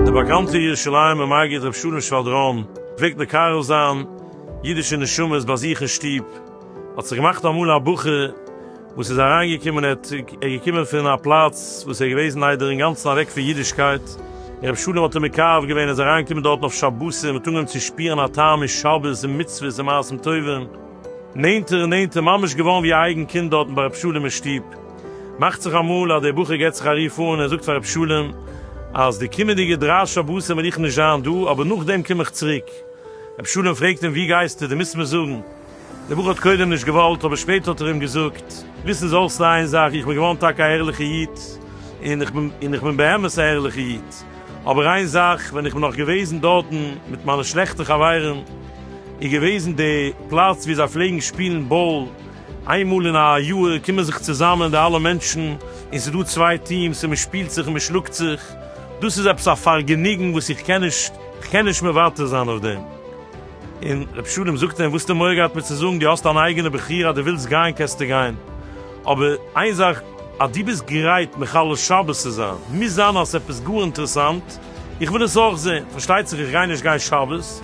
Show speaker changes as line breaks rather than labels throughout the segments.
דער באקאנטער ירושלימער מגיד ר' שלום שוואדראן פלעגט מקרב זיין אידישע נשמות ביי זיך אין שטוב, האט זיך געמאכט אמאל א בחור, וואס איז אריינגעקומען, ער האט ער געקומען פון א פלאץ וואס ער איז געוועזן איידער אינגאנצן אוועק פון אידישקייט, רבי שלום האט אים מקרב געווען, ער איז אריינגעקומען דארטן אויף שבתים, האט אנגעהויבן צו שפירן א טעם אין שבת און מצוות און מעשים טובים, נענטער און נענטער, ממש געווארן ווי א אייגן קינד דארטן ביי רבי שלום אין שטוב, מאכט זיך אמאל אז דער בחור געט זיך א רוף אן, ער זאגט פאר רבי שלום אז די קומענדיגע דריי שבתים וועל איך נישט זיין דא, אבער נאכדעם קום איך צוריק, רבי שלום פרעגט אים וואו גייסטו, דו מוזט מיר זאגן. דער בחור האט קודם נישט געוואלט, אבער שפעטער האט ער אים געזאגט, וויסן זי אויך איין זאך, איך בין געווארן טאקע א ערליכע איד, און איך בין און איך בין באמת א ערליכע איד, אבער איין זאך, ווען איך בין נאך געוועזן דארטן מיט מיינע שלעכטע חברים, איז געוועזן די פלאץ וואו זיי פלעגן שפילן באל, איין מאל אין א יאהר קומען זיך צוזאמען די אלע מענטשן, און ס'איז דא צוויי טיעמס און מען שפילט זיך און מען שלאגט זיך, דאס איז עפעס א פארגעניגן וואס איך קען נישט, איך קען נישט מוותר זיין אויף דעם. און רבי שלום זאגט אים, וואס האט די מורא געהאט מיר צו זאגן, דו האסט אן אייגענע בחירה אז דו ווילסט גיין קענסטו גיין, אבער איין זאך, אז דו ביסט גרייט מחלל שבת צו זיין, מוז זיין אז עס איז עפעס גאר אינטערעסאנט, איך וויל עס אויך זען, פארשטייט זיך איך גיי נישט גיין שבת,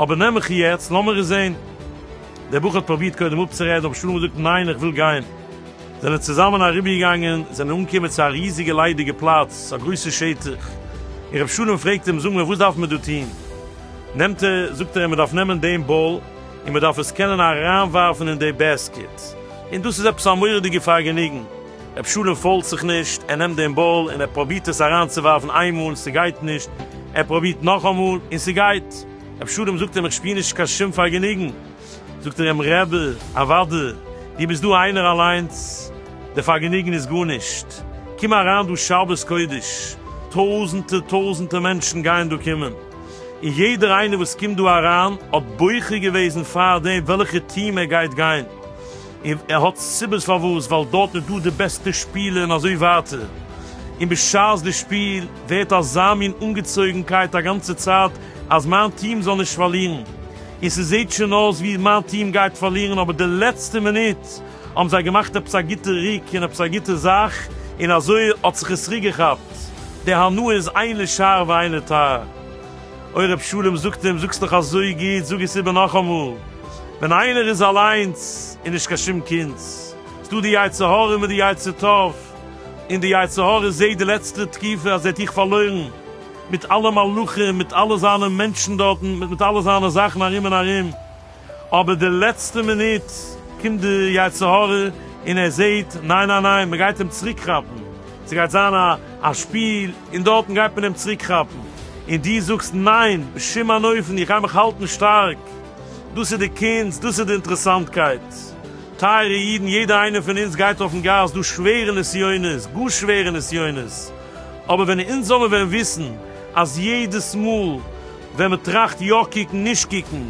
אבער נעם מיך יעצט, לאמיר עס זען. דער בחור האט פרובירט קודם אפצורעדן, רבי שלום האט געזאגט, ניין, איך וויל גיין. זענען צוזאמען אריבערגעגאנגען, זענען אנגעקומען צו א ריזיגע ליידיגע פלאץ, א גרויסע שטח, און רבי שלום פרעגט אים, זאג מיר, וואס דארף מען דא טון? נעמט ער, זאגט ער, מען דארף נעמען דעם באל און מען דארף עס קענען אריינווארפן אין די בעסקעט, און דאס איז עפעס א מורא'דיגע פארגעניגן. רב שלום פאלט זיך נישט, ער נעמט דעם באל און ער פרובירט עס אריינצואווארפן איינמאל און ס'גייט נישט, ער פרובירט נאכאמאל און ס'גייט. רב שלום זאגט אים, איך שפיר נישט קיין שום פארגעניגן. זאגט ער אים, רבי, אוואדי, דו ביסט דא איינער אליינס, די פארגעניגן איז גארנישט. קום אריין דא שבת קודש, טויזנטער טויזנטער מענטשן גייען דא קומען. און יעדער איינער וואס קומט דא אריין האט בוחר געוועזן פארדעם וועלכע טיעם ער גייט גיין, און ער האט סיבות פארוואס, ווייל דארט איז דא די בעסטע שפילער און אזוי ווייטער, און בשעת די שפיל ווערט אזא מין אנגעצויגנקייט א גאנצע צייט אז מיין טיעם זאל נישט פארלירן, און ס'זעט שוין אויס ווי מיין טיעם גייט פארלירן אבער די לעצטע מינוט, האבן זיי געמאכט עפעס א גוטע ריק און עפעס א גוטע זאך, און אזוי האט זיך עס ריק געכאפט, די הנאה איז איינער שאר ואיינער טאר. אוי רב שלום זאגט אים, זאגסט דאך אזוי גוט, זאג עס איבער נאכאמאל, ווען איינער איז אליינס און נישט קיין שום קינץ, איז דא די יצר הרע מיט די יצר טוב, און די יצר הרע זעהט די לעצטע תקופה אז ער האט איר פארלוירן, מיט אלע מלאכים, מיט אלע זיינע מענטשן דארטן, מיט אלע זיינע זאכן ארום און ארום. אבער די לעצטע מינוט קומט די יצר הרע און ער זעהט ניין ניין ניין מען גייט אים צוריק כאפן, ס'גייט זיין א שפיל און דארטן גייט מען אים צוריק כאפן, און דו זאגסט ניין בשום אין אופן איך גיי מיך האלטן שטארק, דאס איז די קונץ, דאס איז די אינטערעסאנטקייט טייערע אידן, יעדע איינער פון אונז גייט אויפן גאס דורך שווערע נסיונות, גאר שווערע נסיונות, אבער ווען אונז זאלן ווען וויסן אז יעדעס מאל. ווען מען טראכט יא קוקן נישט קוקן,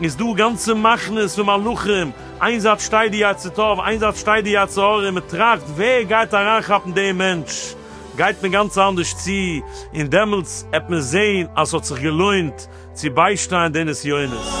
איז דא גאנצע מחנות פון מלאכים, איין זייט שטייט די יצר טוב, איין זייט שטייט די יצר הרע, און מען טראכט ווער גייט אריינכאפן דעם מענטש, גייט מען גאנץ אנדערש צו, און דעמאלטס עט מען זען אז ס'האט זיך געלוינט צו ביישטיין די נסיונות.